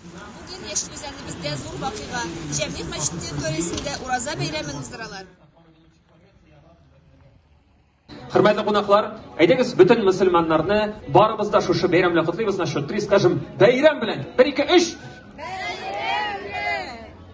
Бүген Яшел Үзәнебездә зур вакыйга, Җәмигъ мәчете төресендә Ураза бәйрәмен уздыралар. Хөрмәтле кунаклар, әйдәгез бөтен мөселманнарны барыбыз да шушы бәйрәм белән котлыйбыз, на счет три скажем, бәйрәм белән! Бер, ике, өч!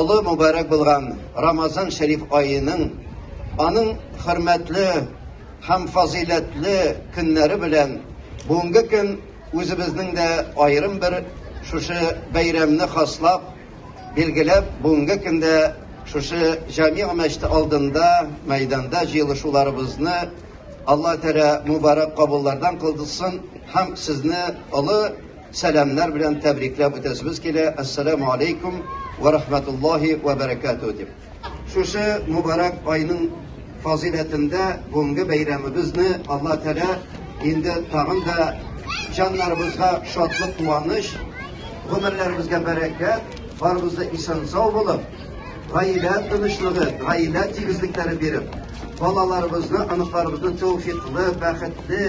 Олы мөбарәк булган Рамазан шәриф аеның, аның хөрмәтле һәм фазыйләтле көннәре белән бүгенге көн үзебезнең дә аерым бер шушы бәйрәмне хаслап, билгеләп, бүгенге көндә шушы Җәмигъ мәчете алдында, мәйданда җыелышуларыбызны Алла Тәгалә мөбарәк кабуллардан кылдысын һәм сезне олы сәламнәр белән тәбрикләп үтәсебез килә, Әссәләмү алейкум вә рахмәтуллаһи вә бәрәкәтүһ дип. Шушы мөбарәк айның фазыйләтендә бүгенге бәйрәмебезне Алла Тәгалә инде тагын да җаннарыбызга шатлык, куаныч, гомерләребезгә бәрәкәт, барыбыз да исән-сау булып, гаилә тынычлыгы, гаилә тигезлекләре биреп, балаларыбызны, оныкларыбызны тәүфиклы, бәхетле,